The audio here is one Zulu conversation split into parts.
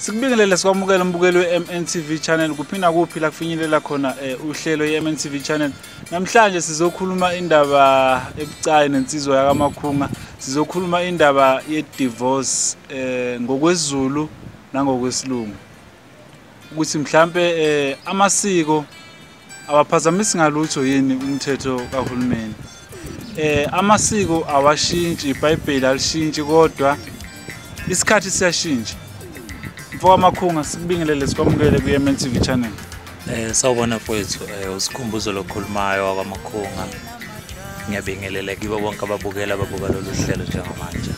sikubingelele sikwamukela umbukeli we-mntv channel kuphi nakuphi la kufinyelela khona um uhlelo ye-mntv channel namhlanje sizokhuluma indaba ebucayi nensizwa yakamakhunga sizokhuluma indaba ye-divorce um ngokwezulu nangokwesilungu ukuthi mhlampe eh amasiko awaphazamisi ngalutho yini umthetho kahulumeni eh amasiko awashintshi iBhayibheli alishintshi kodwa isikhathi siyashintsha mfoka makhunga sikubingelele sikwamukele kuye MNTV channel Eh sawubona mfowethu eh usikhumbuzo lokhulumayo wakwamakhunga. Ngiyabingelela kibo bonke ababukela ababuka lolu hlelo njengamanje.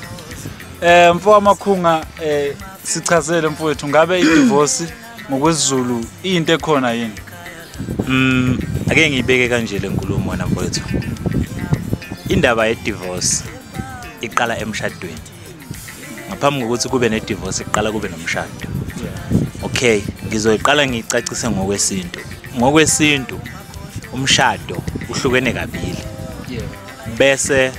Eh mfo wamakhunga eh sichazele mfowethu ngabe idivorce ngokwesiZulu into ekhona yini? Mm ake ngiyibeke kanje lenkulumo wena mfowethu. Indaba yedivorce iqala emshadweni. ngaphambi kokuthi kube nedivorce kuqala kube nomshado okay ngizoyiqala ngicacise ngokwesintu ngokwesintu umshado uhlukene kabili bese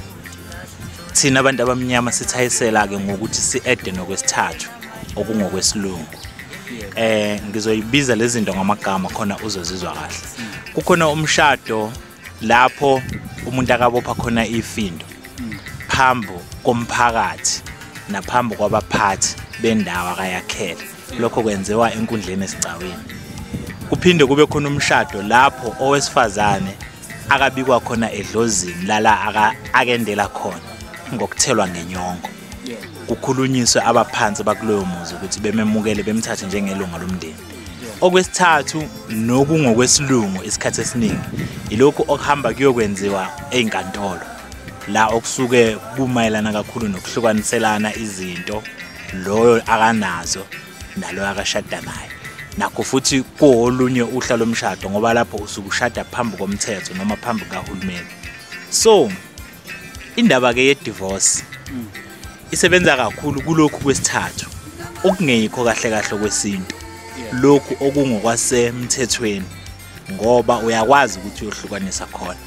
thina abantu abamnyama sithayisela-ke ngokuthi si-ede nokwesithathu okungokwesilungu eh ngizoyibiza lezi zinto ngamagama khona uzozizwa kahle kukhona umshado lapho umuntu akabopha khona ifindo phambo komphakathi naphambo kwabaphathi bendawo akayakhele lokho kwenziwa enkundleni esigcawini kuphinde kube khona umshado lapho owesifazane akabikwa khona edlozini lala akendela khona ngokuthelwa ngenyongo kukhulunyiswe abaphansi bakuloyo muzi ukuthi bememukele bemthathe njengelunga lomndeni okwesithathu nokungokwesilungu isikhathi esiningi yilokhu okuhamba kuyokwenziwa ezinkantolo la okusuke kumayelana kakhulu nokuhlukaniselana izinto loyo akanazo naloyo akashada naye nakho futhi kuolunye uhla lomshado ngoba lapho usuke ushada phambi komthetho noma phambi kahulumeni so indaba ke yedivorce mm. isebenza kakhulu kulokhu kwesithathu okungeyikho kahle kahle kwesintu lokhu okungokwasemthethweni ngoba uyakwazi ukuthi uyohlukanisa khona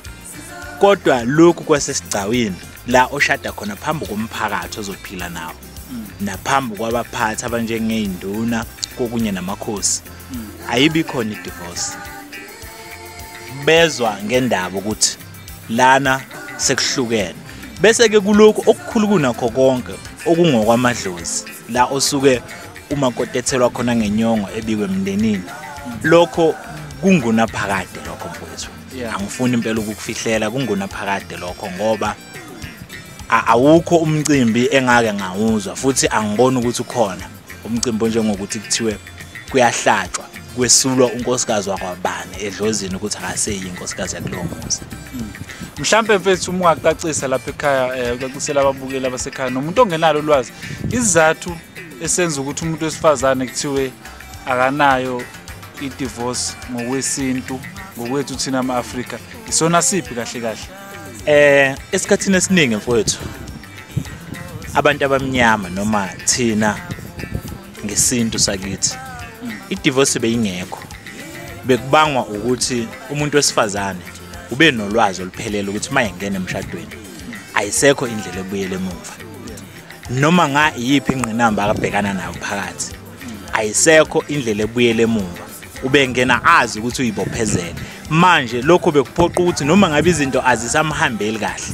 kodwa lokhu kwasesigcawini la oshada khona phambi komphakathi ozophila nawo mm. naphambi kwabaphathi abanjengeinduna kokunye namakhosi mm. ayibi khona idivorce bezwa ngendaba ukuthi lana sekuhlukene bese ke kuloko okukhulu kunakho konke okungokwamadlozi la osuke uma kotethelwa khona ngenyongo ebikwe emndenini lokho kungona phakade lokho mfowethu angifuni impela ukukufihlela kungona phakade lokho ngoba awukho umcimbi engake ngawuzwa futhi angiboni ukuthi ukhona umcimbi onjengokuthi kuthiwe kuyahlatshwa kwesulwa unkosikazi wakwabani edlozini ukuthi akaseyi inkosikazi yakulowo muzi mhlampe mfethu uma ungacacisa lapha ekhaya um eh, ucacisela ababukeli abasekhaya nomuntu ongenalo ulwazi isizathu esenza ukuthi umuntu wesifazane kuthiwe akanayo i-divorce ngokwesintu ngokwethu thina ama-afrika isona siphi kahle kahle um esikhathini esiningi mfowethu abantu abamnyama noma thina ngesintu sakithi idivorce beyingekho bekubangwa ukuthi umuntu wesifazane ube nolwazi oluphelele ukuthi uma engena emshadweni ayisekho indlela ebuyele emuva noma nga iyiphi ingqinamba akabhekana nayo phakathi ayisekho indlela ebuyele emuva ubengena azi ukuthi uyibophezele manje lokho bekuphoqa ukuthi noma ngabe izinto azisamhambeli kahle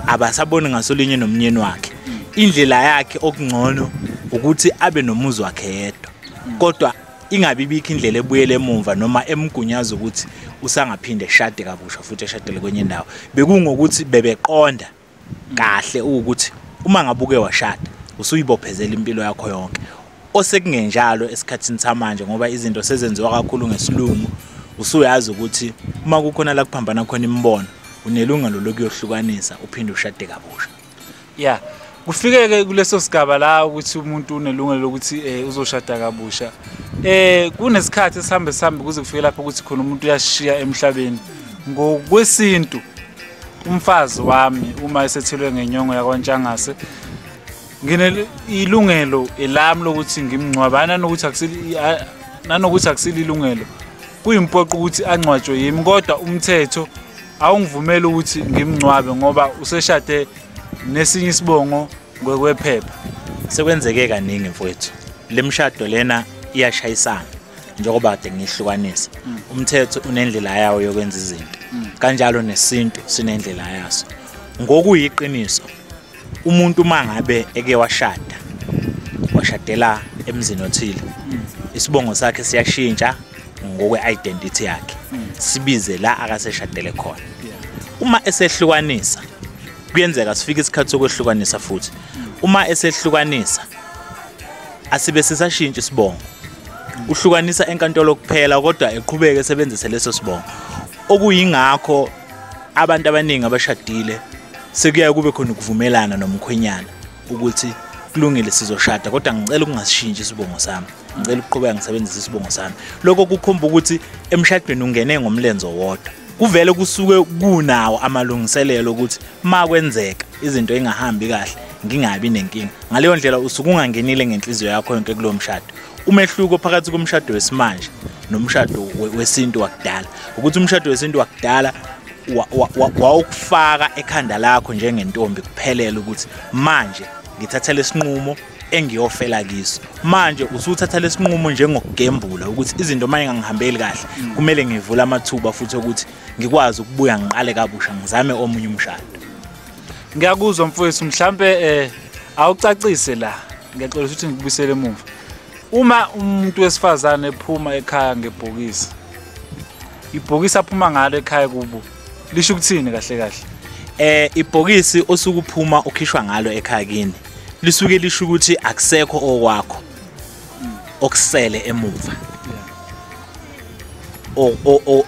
abasaboni ngasolinye nomnyeni wakhe indlela yakhe okungcono ukuthi abe nomuzi wakhe yedwa kodwa ingabi bikho indlela ebuyele emumva noma emgunyaza ukuthi usangaphinde eshade kabusha futhi eshadele kwenye indawo bekungokuthi bebeqonda kahle ukuthi uma ngabuke washada usuyibophezela impilo yakho yonke osekungenjalo esikhathini samanje ngoba izinto sezenziwa kakhulu ngesilungu usuyazi ukuthi uma kukhona la kuphambana khona imibono unelungelo lokuyohlukanisa uphinde ushade kabusha ya kufikeke kuleso sigaba la ukuthi umuntu unelungelo lokuthi um uzoshada kabusha um kunesikhathi esihambe sihambe kuze kufike lapho ukuthi khona umuntu uyashiya emhlabeni ngokwesintu umfazi wami uma esethilwe ngenyongo yakwaNtshangase nginelungelo elami lokuthi ngimngcwabe nanokuthi nanokuthi akusililungelo kuyimpoqo ukuthi angcwatshwe yimi kodwa umthetho awungivumeli ukuthi ngimngcwabe ngoba useshade nesinye isibongo ngokwephepha sekwenzeke kaningi mfowethu lemshado lena iyashayisana njengoba kade ngihlukanisa mm. umthetho unendlela yawo yokwenza izinto mm. kanjalo nesintu sinendlela yaso ngokuyiqiniso umuntu uma ngabe eke washada washadela emzini othile mm. isibongo sakhe siyashintsha ngokwe-identity yakhe sibize la akaseshadele khona uma esehlukanisa kuyenzeka sifike isikhathi sokwehlukanisa futhi uma esehlukanisa asibe sisashintsha isibongo uhlukanisa enkantolo kuphela kodwa eqhubeke esebenzise leso sibongo okuyingakho abantu abaningi abashadile sekuyaye kube khona ukuvumelana nomkhwenyana ukuthi kulungile sizoshada kodwa ngicela ukungasishintsha isibongo sami ngicela ukuqhubeka ngisebenzise isibongo sami lokho kukhomba ukuthi emshadweni ungene ngomlenze wodwa kuvele kusuke kunawo amalungiselelo ukuthi ma kwenzeka izinto engahambi kahle ngingabi nenkinga ngaleyo ndlela usuke ungangenile ngenhliziyo yakho yonke kulo mshado umehluko phakathi komshado wesimanje nomshado wesintu wakudala ukuthi umshado wesintu wakudala wawukufaka ekhanda lakho njengentombi kuphelele ukuthi manje ngithatha lesinqumo engiyofela kiso manje usuthatha lesinqumo njengokugembula ukuthi izinto manje ngangihambeli kahle kumele ngivule amathuba futhi ukuthi ngikwazi ukubuya ngiqale kabusha ngizame omunye umshado ngiyakuzwa mfowethu mhlampe eh awucacise la ngiyacela ukuthi ngikubisele emuva uma umuntu wesifazane ephuma ekhaya ngebhokisi ibhokisi aphuma ngalo ekhaya kubo lisho ukuthini kahle kahle eh ibhokisi osukuphuma ukhishwa ngalo ekhaya kini lisuke lisho ukuthi akusekho okwakho okusele emuva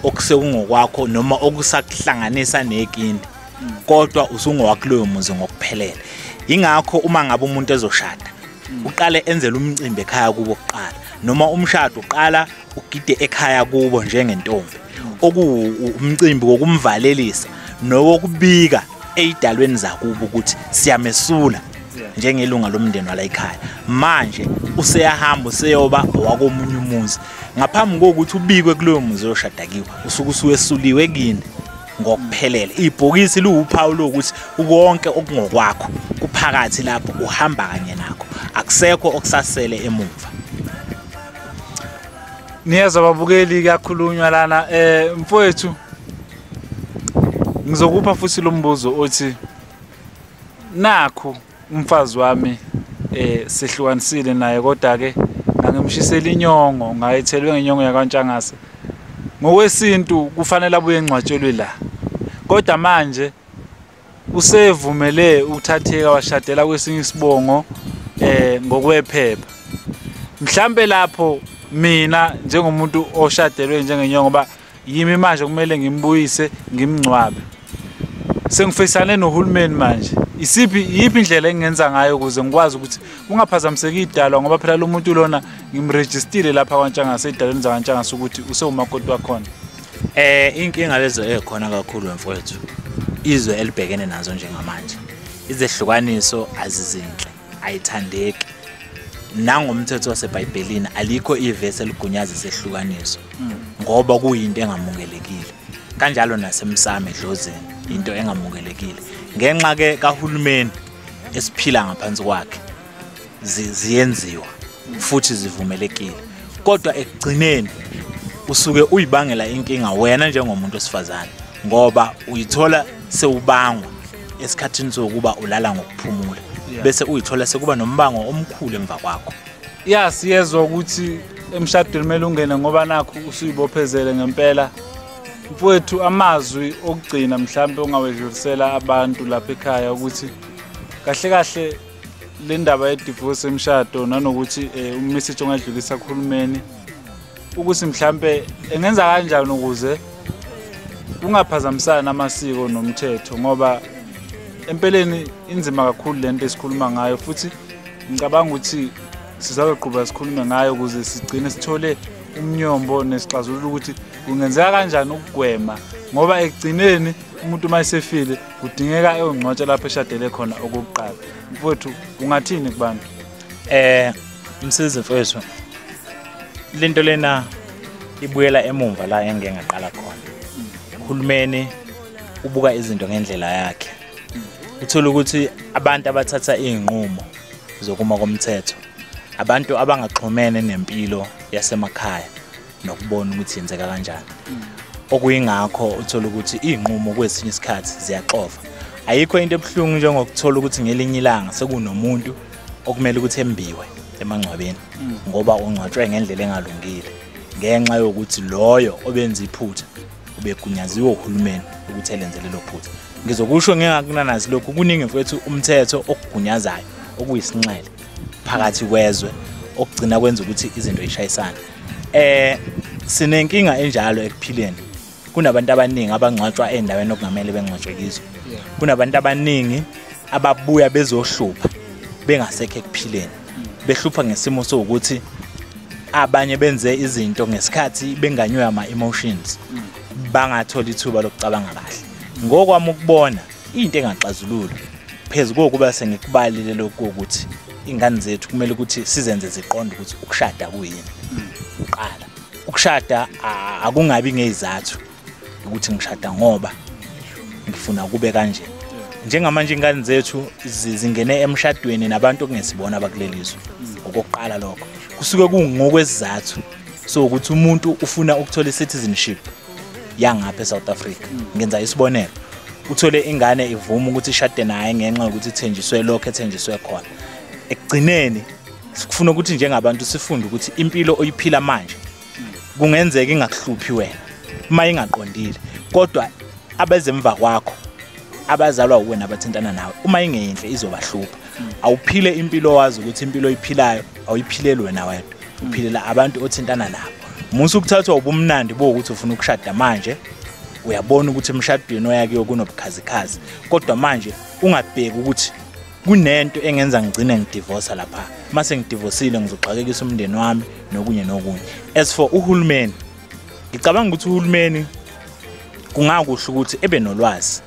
okusekungokwakho noma okusakuhlanganisa nekini kodwa usungowakuloyo muzi ngokuphelele ingakho uma ngabe umuntu ezoshada uqale enzele umcimbi ekhaya kubo kuqala noma umshado uqala ugide ekhaya kubo njengentombi okuwumcimbi wokumvalelisa nowokubika eyidalweni zakubo ukuthi siyamesula njengelunga lomndeni wala ekhaya manje useyahamba useyoba owakomunye umuzi ngaphambi kokuthi ubikwe kuloyo muzi oyoshadakiwe usuke usuwesuliwe kini ngokuphelele ibhokisi liwuphawu lokuthi konke okungokwakho kuphakathi lapho uhamba kanye nakho akusekho okusasele emuva niyezwa babukeli kuyakhulunywa lana eh mfowethu ngizokupha futhi lo mbuzo othi nakho umfazi wami eh sehlukanisile naye kodwa ke ngangimshisela inyongo ngayithelwe ngenyongo yakwantshangase ngokwesintu kufanele abuye engcwatshelwe la kodwa manje Usevumele ukuthatheka washadela kwesinye isibongo eh ngokwephepha. Mhlambe lapho mina njengomuntu oshadelwe njengenyongo ngoba yimi manje kumele ngimbuyise ngimngcwabe sengifisane nohulumeni manje isiphi yiphi indlela engenza ngayo ukuze ngikwazi ukuthi kungaphazamiseki idalwa ngoba phela lo muntu lona ngimrejistile lapha kwantshangase edalweni zakantshangase ukuthi usewumakoti wakhona Eh inkinga lezo ekhona kakhulu mfowethu. Izwe elibhekene nazo njengamanje. Izehlukaniso azizinhle, ayithandeki. Nangomthetho waseBhayibhelini alikho ivesi eligunyaza isehlukaniso hmm. ngoba kuyinto engamukelekile. Kanjalo nasemsame edlozini into engamukelekile. Ngenxa ke kahulumeni esiphila ngaphansi kwakhe ziyenziwa futhi zivumelekile kodwa ekugcineni usuke uyibangela inkinga wena njengomuntu osifazane ngoba uyithola sewubangwa esikhathini sokuba ulala ngokuphumula bese uyithola sekuba nombango omkhulu emva kwakho ya siyezwa ukuthi emshadweni kumele ungene ngoba nakho usuyibophezele ngempela mfowethu amazwi okugcina mhlawumbe ongawedlulisela abantu lapha ekhaya ukuthi kahle kahle le ndaba yedivorce emshado nanokuthi um umessage ongadlulisa kuhulumeni ukuthi mhlampe engenza kanjani ukuze kungaphazamisani amasiko nomthetho ngoba empeleni inzima kakhulu le nto esikhuluma ngayo futhi ngicabanga ukuthi sizazoqhuba sikhulume ngayo ukuze sigcine sithole umnyombo nesixazulula ukuthi kungenzeka kanjani ukugwema ngoba ekugcineni umuntu uma esefile kudingeka eyongcwatsha lapho eshadele khona okokuqala mfowethu ungathini kubantu eh msizi mfowethu lento lena ibuyela emumva la engeke ngaqala khona uhulumeni ubuka izinto ngendlela yakhe uthola ukuthi abantu abathatha izinqumo zokuma komthetho abantu abangaxhumene nempilo yasemakhaya nokubona ukuthi yenzeka kanjani okuyingakho uthola ukuthi iy'nqumo kwesinye isikhathi ziyaxova ayikho into ebuhlungu njengokuthola ukuthi ngelinye ilanga sekunomuntu okumele ukuthi embiwe emangcwabeni mm. ngoba ungcwatshwe ngendlela engalungile ngenxa yokuthi loyo obenza iphutha ubegunyaziwe uhulumeni ukuthi elenze lelo phutha ngizokusho ngingakunanazi lokhu kuningi mfethu umthetho okugunyazayo okuyisinxele phakathi kwezwe okugcina kwenza ukuthi izinto yishayisane eh sinenkinga enjalo ekuphileni kunabantu abaningi abangcwatshwa endaweni okungamele bengcwatshwe kizo kunabantu abaningi ababuya bezohlupha bengasekho ekuphileni behlupha ngesimo sokuthi abanye benze izinto ngesikhathi benganywe ama emotions bangathola ithuba lokucabanga kahle ngokwami ukubona into engaxazulula phezu kokuba sengikubalile lokho ukuthi ingane zethu kumele ukuthi sizenze ziqonde ukuthi ukushada kuyini uqala ukushada akungabi ngezizathu ukuthi ngishada ngoba ngifuna kube kanje njengamanje ingane zethu zingene emshadweni nabantu okungesibona abakulelizwe okokuqala lokho kusuke kungokwesizathu so ukuthi umuntu ufuna ukuthola i-citizenship yangapha eSouth Africa ngenza isibonelo uthole ingane ivuma ukuthi ishade naye ngenxa yokuthi ithenjiswe lokho ethenjiswe khona ekugcineni sikufuna ukuthi njengabantu sifunde ukuthi impilo oyiphila manje kungenzeka ingakuhluphi wena uma ingaqondile kodwa abezemva kwakho abazalwa uwena abathintana nawe uma ingeyinhle izobahlupha awuphile impilo wazi ukuthi impilo oyiphilayo awuyiphileli wena wedwa uphilela abantu othintana nabo musa ukuthathwa ubumnandi bokuthi ufuna ukushada manje uyabona ukuthi emshadweni oyakiyo kunobukhazikhazi kodwa manje ungabheki ukuthi kunento engenza ngigcine ngidivosa lapha mase ngidivosile ngizoxakekisa umndeni wami nokunye nokunye as for uhulumeni ngicabanga ukuthi uhulumeni kungakusho ukuthi ebe nolwazi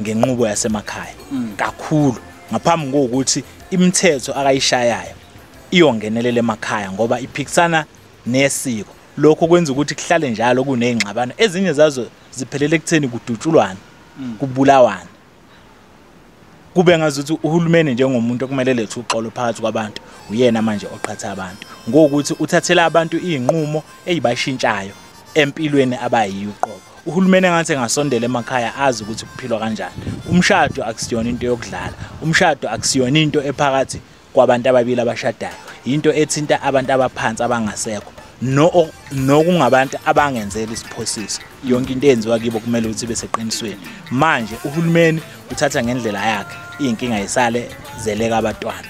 ngenqubo yasemakhaya mm. kakhulu ngaphambi kokuthi imithetho akayishayayo iyongenelela emakhaya ngoba iphikisana nesiko lokho kwenza ukuthi kuhlale njalo kunezingxabano ezinye zazo ziphelele ekutheni kudutshulwana mm. kubulawana kube ngazuthi uhulumeni njengomuntu okumele lethe uxolo phakathi kwabantu uyena manje oqhatha abantu ngokuthi uthathela abantu izinqumo ezibashintshayo empilweni abayiyo uqobo uhulumeni engathi engasondela emakhaya azi ukuthi kuphilwa kanjani umshado akusiyona into yokudlala umshado akusiyona into ephakathi kwabantu ababili abashadayo yinto ethinta abantu abaphansi abangasekho nokungabantu abangenzeli isiphosiso yonke into eyenziwa kibo kumele ukuthi ibe seqinisweni manje uhulumeni uthatha ngendlela yakhe iy'nkinga yisale zeleka abatwana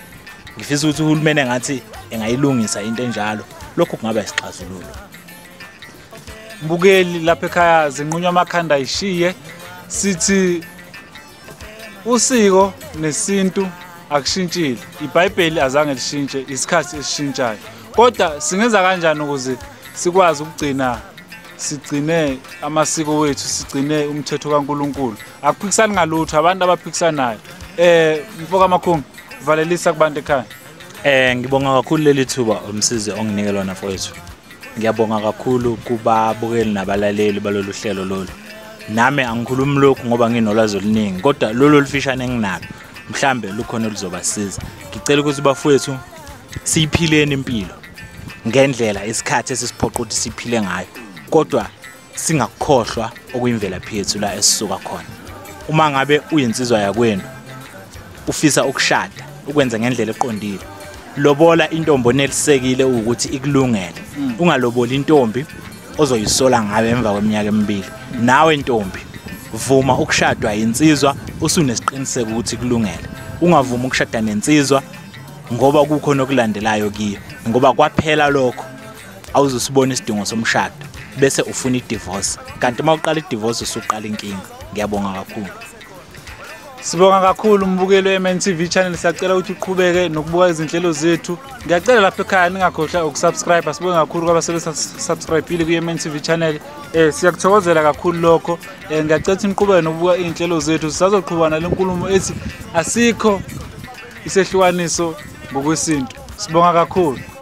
ngifisa ukuthi uhulumeni engathi engayilungisa into enjalo lokhu kungaba isixazululo mbukeli lapha ekhaya zinqunywa amakhanda ayishiye sithi usiko nesintu akushintshile ibhayibheli azange lishintshe isikhathi esishintshayo kodwa singenza kanjani ukuze sikwazi ukugcina sigcine amasiko wethu sigcine umthetho kaNkuluNkulu akuphikisani ngalutho abantu abaphikisanayo eh mfoka amakhumbi valelisa kubantu ekhaya eh ngibonga kakhulu leli thuba umsizi onginike lona mfowethu ngiyabonga kakhulu kubabukeli nabalaleli balolu hlelo lolu nami angikhulumi lokhu ngoba nginolwazi oluningi kodwa lolu olufishane enginalo mhlambe lukhona oluzobasiza ngicela ukuthi bafowethu siyiphileni impilo ngendlela isikhathi esisiphoqa ukuthi siphile ngayo kodwa singakukhohlwa okuyimvelaphi yethu la esisuka khona uma ngabe uyinsizwa yakwenu ufisa ukushada ukwenza ngendlela eqondile lobola intombi onelisekile ukuthi ikulungele mm. ungaloboli intombi ozoyisola ngayo emva kweminyaka emibili nawe ntombi vuma ukushadwa yinsizwa usunesiqiniseko ukuthi kulungele ungavumi ukushada nensizwa ngoba kukhona okulandelayo kiyo ngoba kwaphela lokho awuzusibona isidingo somshado bese ufuna idivorce kanti uma uqala idivorce usuqala inkinga ngiyabonga kakhulu Sibonga kakhulu umbukelo weMNTV channel siyacela ukuthi uqhubeke nokubuka izinhlelo zethu. Ngiyacela lapha ekhaya ningakhohlwa ukusubscribe. Sibonga kakhulu kwabasebe subscribeile kuMNTV channel. Eh siyakuthokozela kakhulu lokho. Eh ngiyacela ukuthi niqhubeke nokubuka izinhlelo zethu. Sisazoqhubana lenkulumo ethi asikho isehlukaniso ngokwesintu. Sibonga kakhulu.